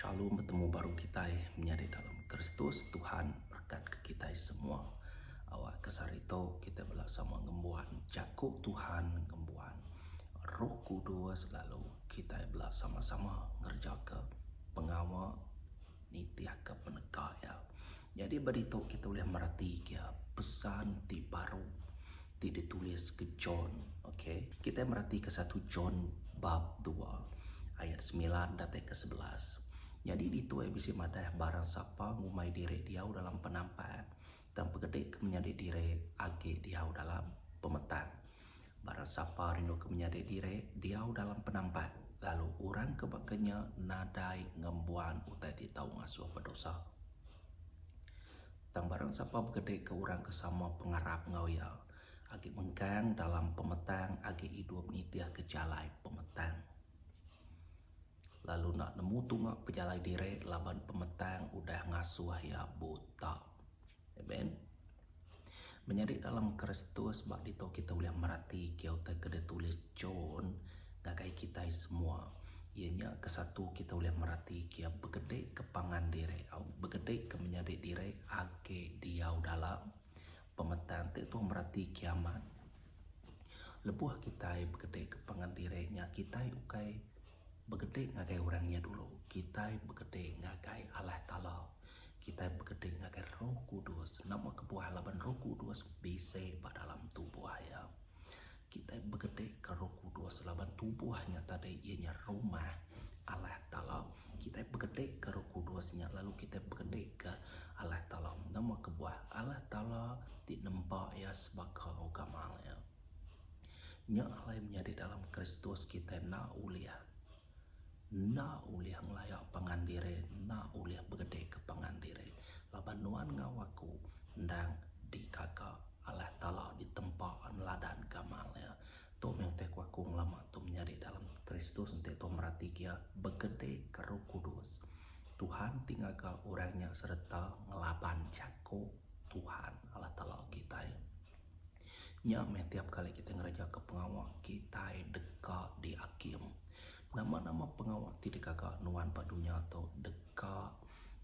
Shalom bertemu baru kita menyadi dalam Kristus Tuhan berkat ke kita semua. Awak ke sehari tu kita bela sama ngembuan jaku Tuhan ngembuan Roh Kudus lalu kita bela sama-sama ngerja ke pengawa nitih ke peneka ya. Nyadi ba ditu kita ulih meratika pesan ti baru ti dituliska John. Okey, kitai meratika satu John bab dua ayat semilan datai ke sebelas. Nyadi ditu ai bisi madah barang sapa ngumbai diri diau dalam penampak tang pegedika menyadi diri agi diau dalam pemetak. Baran sapa rindu ke menyadi diri diau dalam penampat, lalu orang ke baka nya nadai ngembuan utai ti tau ngasuh bedosa. Tang baran sapa begedika orang ke sama pengarap enggau iya, agi mengkang dalam pemetang agi idup nitihka jalai pemetang. Lalu enda nemu tunga pejalai diri laban pemetang udah ngasuh iya buta. Amen. Menyadi dalam Kristus ba ditu kita ulih meratika utai ke ditulis John ngagai kita semua. Iya nya ke satu kita ulih meratika begede ke pangan diri au begede ke menyadi diri agi diau dalam pemetan ti tu meratika amat lebuh kitai begede ke pangan diri nya kitai ukai Begedek ngagai orang nya dulu, kitai begedek ngagai Allah Taala. Kitai begedek ngagai Roh Kudus. Nama kebuah laban Roh Kudus bisi ba dalam tubuh iya? Kitai begedekka Roh Kudus laban tubuh nya tadi iya nya rumah Allah Taala. Kitai begedekka Roh Kudus nya lalu kitai begedekka Allah Taala. Nama kebuah? Allah Taala ti nempa iya sebaka gamal iya. Nya alai menyadi dalam Kristus kitai enda ulih enda ulih ngelaya pangan diri, enda ulih begedika pangan diri. Laban nuan enggau aku endang digaga alah Talah ditempa neladan ke amal iya. Tu mih utai ku aku ngelama tu menyadi dalam Kristus enti tuan merati gia begedika Roh Kudus. Tuhan ti ngaga orang nya sereta ngelaban jaku Tuhan Allah Taala kitai. Nya meh tiap kali kitai ngerejaka pengawa kitai deka diakim. Nama-nama pengawa ti dikaga nuan ba dunya tu deka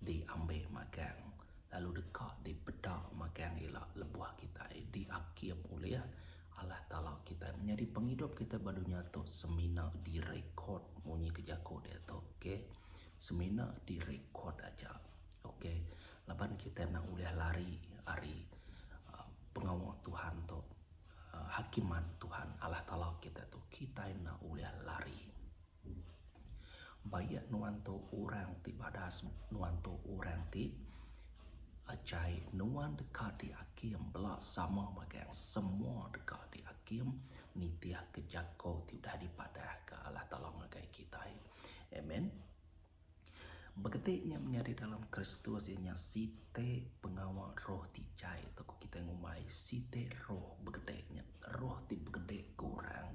diambil magang lalu deka dipeda magang ila lebuh kitai diakim ulih Allah Taala kitai. Menyadi pengidup kitai ba dunya tu semina direkod munyi ke jaku diatu. Okay. Semina direkod aja. Ok, laban kitai enda ulih lari ari pengawa Tuhan tu, hakiman Tuhan Allah Taala kitai tu, kitai enda ulih lari. Baik nuan tu orang ti badas, nuan tu orang ti ajai, nuan deka diakim bela sama magang semua deka diakim nitihka jako ti udah dipadahka Allah Taala ngagai kitai. Amen. Begeti nya menyadi dalam Kristus iya nya siti pengawa roh ti jai tu ku kitai ngumbai siti roh begede nya roh ti begede ke orang.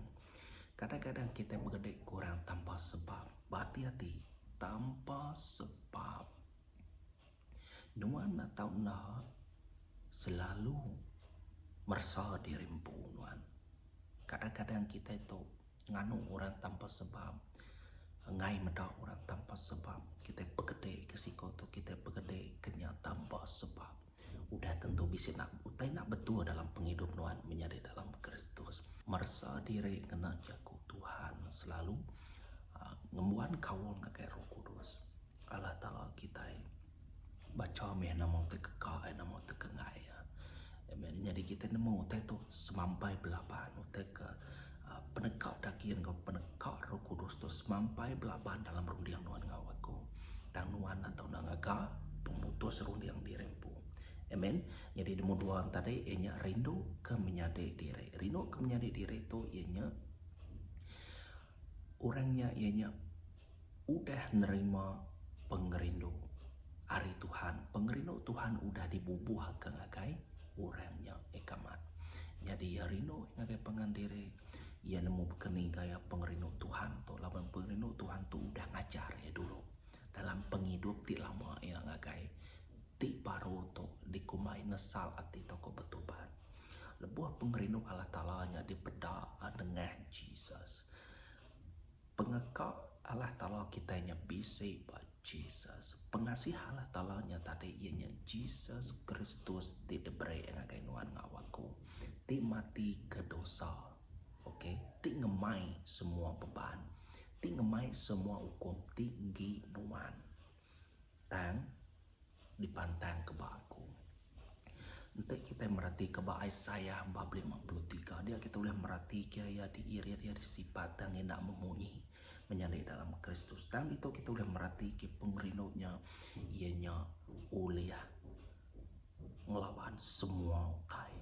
Kadang-kadang kitai begede ke orang tanpa sebab. Ba ati-ati tanpa sebab. Nuan atau enda selalu meresa diri empu nuan. Kadang-kadang kitai tu nganu orang tanpa sebab, enggai meda orang tanpa sebab. Kitai pekede ke siko tu, kitai pekede ke nya tanpa sebab. Udah tentu bisi nak utai nak betul dalam pengidup nuan menyadi dalam Kristus. Meresa diri ngena jaku Tuhan selalu ngembuan kaul ngagai Roh Kudus. Allah Taala kitai bacha meh nama ti keka ai nama ti kengai iya. Amen. Nyadi kitai nemu utai tu semampai belaban utai ke uhh peneka daging enggau peneka roh kudus tu semampai belaban dalam runding nuan enggau aku. Tang nuan enda tau enda ngaga pemutus runding diri empu. Amen. Nyadi nombor dua tadi iya nya rinduka menyadi diri. Rinduka menyadi diri tu iya nya Orang nya iya nya udah nerima pengerindu ari Tuhan. Pengerindu Tuhan udah dibubuhka ngagai orang nya eka mat. Nyadi iya rindu ngagai pangan diri, iya nemu baka ni gaya pengerindu Tuhan tu laban pengerindu Tuhan tu udah ngajar iya dulu dalam pengidup ti lama iya ngagai ti baru tu dikumbai nesal ati tauka betubat. Lebuh pengerindu Allah Taala nya dipeda nengah Jesus, pengeka Allah Taala kitai nya bisi ba Jesus. Pengasih Allah Taala nya tadi iya nya Jesus Kristus ti diberi ngagai nuan enggau aku, ti mati ke dosa, okay, ti ngemai semua beban, ti ngemai semua ukum ti enggi nuan. Tang, dipantangka ba aku. Enti kitai meratika ba Isaiah bab lima puluh tiga, dia kitai ulih meratika iya diirit iya disipat tang enda memunyi menyadi dalam Kristus. Tang ditu kitai ulih meratika pengerindu nya iya nya ulih ngelaban semua utai.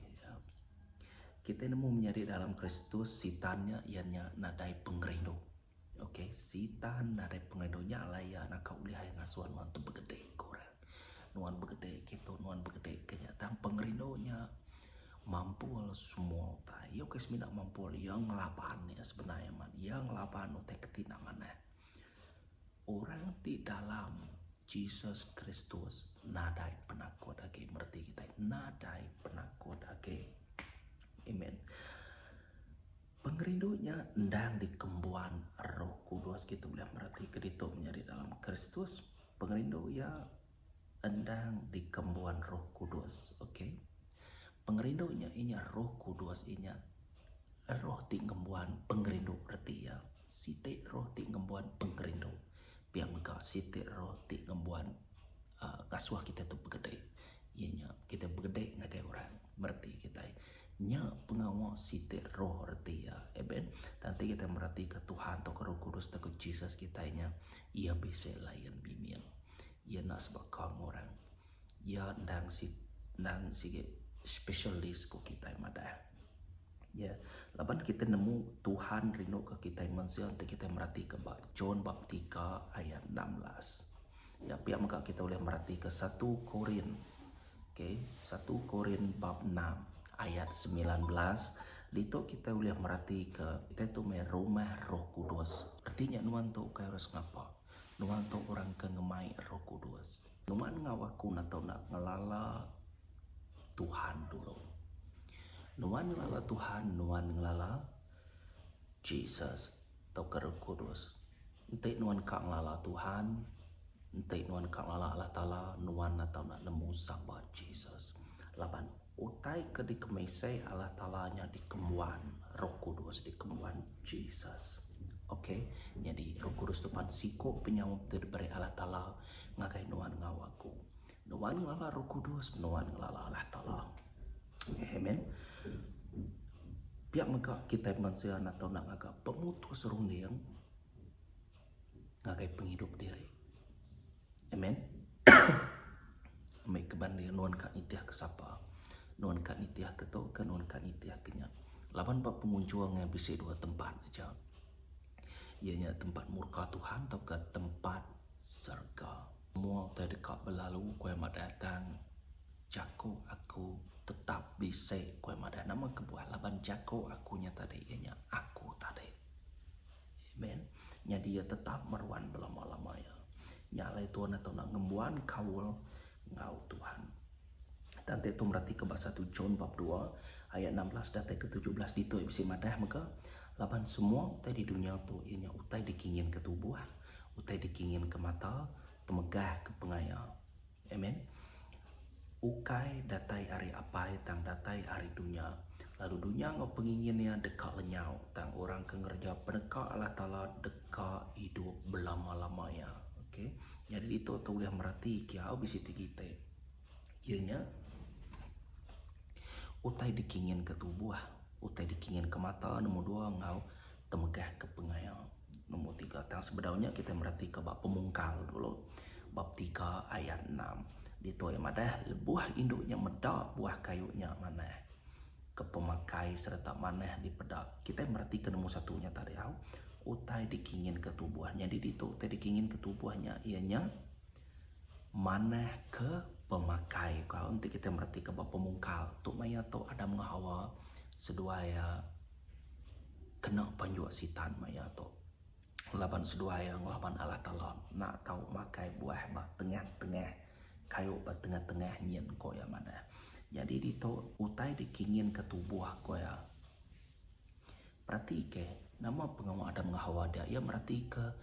Kitai nemu menyadi dalam Kristus sitan nya iya nya nadai pengerindu. Ok, Sitan nadai pengenu nya alai iya naka ulih ai ngasuh nuan tu begede ke orang. Nuan begede ke tu, nuan begede ke nya. Tang pengerindu nya mampul semua utai. Iya ukai semina mampul, iya ngelaban nya sebenar amat. Iya ngelaban utai ke ti enda manah. Orang ti dalam Jesus Kristus nadai penakut agi meri ti kitai. Nadai penakut agi. Amen. Pengerindu nya endang dikembuan Roh Kudus. Kitu ulih mereti ke ditu menyadi dalam Kristus. Pengerindu iya endang dikembuan Roh Kudus. Ok. Pengerindu nya inya Roh Kudus inya Roh ti ngembuan pengerindu reti iya. Siti Roh ti ngembuan pengerindu. Pia mega siti Roh ti ngembuan uhh ngasuh kita tu begede. Iya nya kita begede ngagai orang. Mereti kitai. Nya pengawa siti roh reti iya. Amen. Tang enti kitai meratika Tuhan tauka Roh Kudus tauka Jesus kitai nya, iya bisi layan bimil. Iya enda sebaka enggau orang. Iya endang si endang sigi specialist ku kitai madah. Ya. Laban kitai nemu Tuhan rinduka kitai mensia enti kitai meratika ba John bab tiga ayat enam belas. Ya, pia mega kitai ulih meratika satu Korin Ok, satu Korin bab enam ayat semilan belas, ditu kitai ulih meratika kitai tu meh rumah Roh Kudus. Reti nya nuan tu ukai orang sengapa. Nuan tu orang ke ngemai Roh Kudus. Nuan enggau aku enda tau enda ngelala Tuhan dulu. Nuan ngelala Tuhan, nuan ngelala Jesus. tauka Rauh Kudus. Enti nuan ka ngelala Tuhan, enti nuan ka ngelala Allah Taala, nuan enda tau enda nemu sapa Jesus. Laban utai ke dikemisai Allah Taala nya dikembuan Rauh Kudus, dikembuan Jesus. Ok, nyadi Rauh Kudus tu pan siku penyaup ti diberi Allah Taala ngagai nuan enggau aku. Nuan ngelala roh kudus, nuan ngelala Allah Taala. Amen. Pia mega kitai mensia anak tau nak ngaga pemutus runding ngagai pengidup diri. Amen. Ambil kebanding nuan ka nitih ke sapa. Nuan ka nitih ke tu ke nuan ka nitih ke nya. Laban ba pengunjung nya bisi dua tempat aja. Iya nya tempat murka Tuhan tauka tempat serga. Semua utai deka belalu ku iya madah tang jaku aku tetap bisi ku iya madah nama kebuah laban jaku aku nya tadi iya nya aku tadi. Amen. Nyadi iya tetap meruan belama-lama iya. Nya alai Tuhan enda tau enda ngembuan kaul enggau Tuhan. Tang enti tu meratika ba satu John bab dua ayat enam belas datai ke tujuh belas ditu iya bisi madah mega laban semua utai di dunya tu iya nya utai dikinginka tubuh. Utai dikinginka mata, temegahka pengaya. Amen. Ukai datai ari Apai tang datai ari dunya, lalu dunya enggau pengingin iya deka lenyau, tang orang ke ngereja peneka Allah Taala deka idup belama-lama iya. Okey. Nyadi ditu tu ulih merati kiau bisi ti kiti iya nya utai dikinginka tubuh, utai dikinginka mata nombor dua enggau. Temegahka pengaya nombor tiga. Tang sebedau nya kitai meratika ba Pemungkal dulu bab tiga ayat enam. Ditu iya madah, Lebuh indu nya meda buah kayu nya manah ke pemakai sereta manah dipeda. Kitai meratika nombor satu nya tadi au. Utai dikinginka tubuh. Nyadi ditu utai dikinginka tubuh nya iya nya manah ke pemakai. Ku au enti kitai meratika ba Pemungkal, tu maya tu Adam enggau Hawa seduai iya kena panjok sitan maya tu laban seduai iya ngelaban Allah Taala enda tau makai buah ba tengah-tengah kayu ba tengah-tengah nyin ko iya madah. Nyadi ditu utai dikinginka tubuh ko iya peratika nama pengawa Adam enggau Hawa dia iya meratika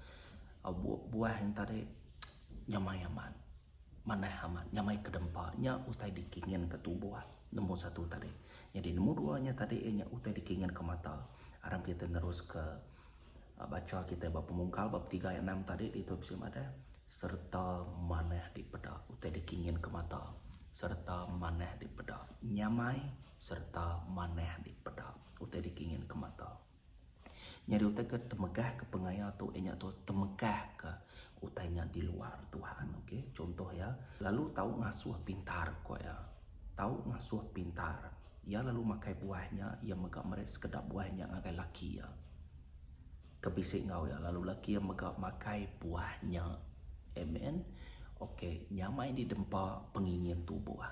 buah nyin tadi nyamai amat. Manah amat nyamai kedempa nya utai dikinginka tubuh nombor satu tadi. Nyadi nombor dua nya tadi iya nya utai dikinginka mata. Aram kita neruska bacha kita ba pemungkal bab tiga ayat enam tadi ditu bisi madah sereta manah dipeda utai dikinginka mata sereta manah dipeda nyamai sereta manah dipeda utai dikinginka mata. Nyadi utai ke temegahka pengaya tu iya nya tu temegahka utai nya di luar Tuhan okay. Chuntoh iya, lalu tau ngasuh pintar ku iya. Tau ngasuh pintar. Iya lalu makai buah nya, iya mega meri sekeda buah nya ngagai laki iya ke bisi enggau iya lalu laki iya mega makai buah nya. Amen. Okay, nyamai di dempa pengingin tubuh.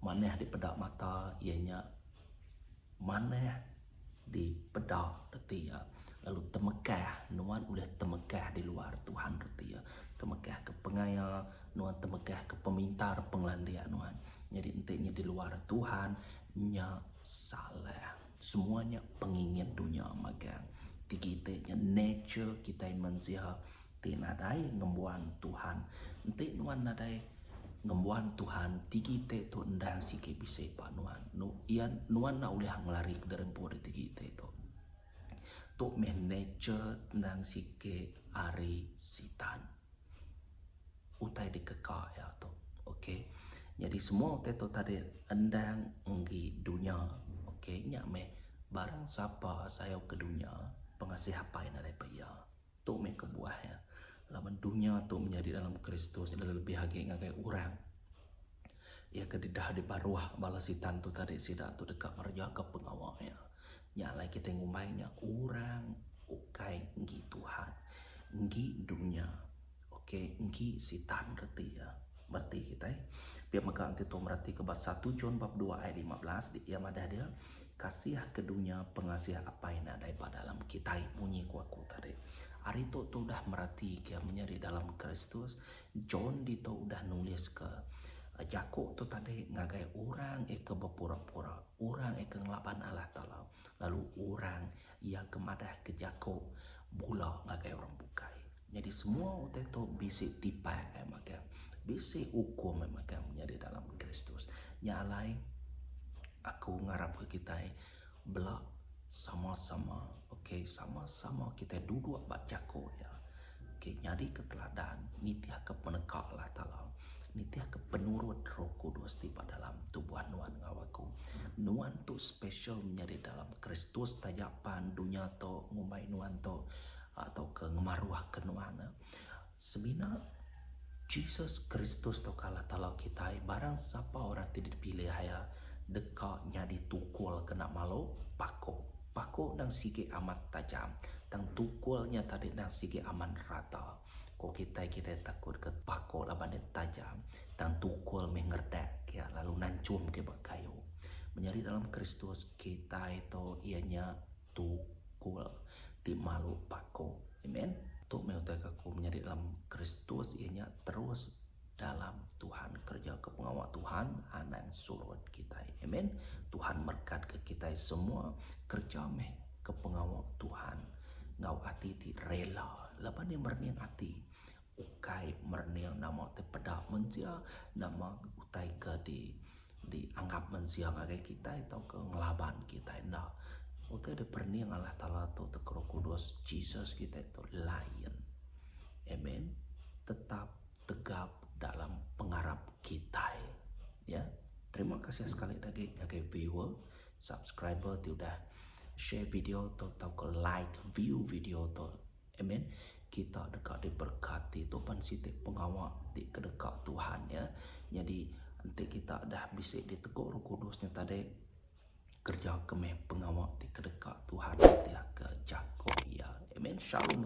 Manah dipeda mata iya nya. Manah di peda reti iya, lalu temekah nuan ulih temekah di luar Tuhan reti iya. Temekah ke pengaya nuan temekah ke pemintar pengelandik nuan. Nyadi enti nya di luar Tuhan nya salah. Semua nya pengingin dunya magang. Tigi ti nya nature kitai mensia. Ti nadai ngembuan Tuhan. Enti nuan nadai ngembuan Tuhan, tigi te tu endang sigi bisi ba nuan. Nu ia nuan enda ulih ngelari ke dari empu ari tigi te tu. Tu meh nature endang sigi ari sitan. Utai dikeka ia tu. Okay. Nyadi semua te tu tadi endang enggi dunya. Okay. Nya meh barang sapa sayau ke dunya, pengasih Apai nadai ba ia. Tu meh kebuah iya, laban dunya tu menyadi dalam Kristus enda lebih agi ngagai orang. Iya ke didahka diparuh bala Sitan tu tadi sida tu deka ngerejaga pengawa iya. Nya alai kitai ngumbai nya orang ukai enggi Tuhan, enggi dunya. Okay, enggi Sitan reti iya. Bereti kitai. Pia mega enti tu meratika ba satu John bab dua ayat lima belas, iya madah dia. Kasih ke dunya pengasih Apai nadai ba dalam kitai munyi ku aku tadi. Ari tu tu udah meratika menyadi dalam Kristus, John ditu udah nuliska jaku tu tadi ngagai orang ika bepura-pura, orang ika ngelaban Allah Taala lalu orang Iya ke madahka jaku bula ngagai orang bukai. Nyadi semua utai tu bisi tipai ai magang. Bisi ukum ai magang menyadi dalam Kristus. Nya alai aku ngarapka kitai bela sama-sama okay sama-sama kitai duduk ba jaku iya. Okey, nyadika teladan, nitihka peneka Allah Taala, nitihka penurut Roh Kudus ti ba dalam tubuh nuan enggau aku. Nuan tu special menyadi dalam Kristus taja pan dunya tu ngumbai nuan tu tauka ngemaruhka nuan. Semina Jesus Kristus tauka Allah Taala kitai, barang sapa orang ti dipilih iya deka nyadi tukul kena malu pakuh. Paku endang sigi amat tajam, tang tukul nya tadi endang sigi amat rata. Ko kitai kitai takut ke paku laban iya tajam, tang tukul meh ngeredak ke iya lalu nanchum ke iya ba kayu. Menyadi dalam Kristus, kitai tu iya nya tukul ti malu paku. Amen. Tu meh utai ke aku menyadi dalam Kristus iya nya terus. Dalam Tuhan kerja ke pengawa Tuhan anang surut kitai. Amen. Tuhan merkat ke kitai semua kerja meh ke pengawa Tuhan ngau ati ti rela laban nya merening ati ukai merening nama ti peda mensia nama utai ke di di anggap mensia ngagai kitai tauka ngelaban kitai enda. Utai dep rening Allah Taala tu teka roh kudus Jesus kitai tu lain. Amen. Tetap tegap dalam pengarap kitai ya terima kasih sekali lagi ngagai viewer subscriber ti udah share video tu tau ke like view video tu amen kita deka diberkati tu pan siti pengawa ti kedeka Tuhan ya nyadi enti kita dah bisi diteguk roh kudus nya tadi kerja ke meh pengawa ti kedeka Tuhan ti aka jaku iya amen shalom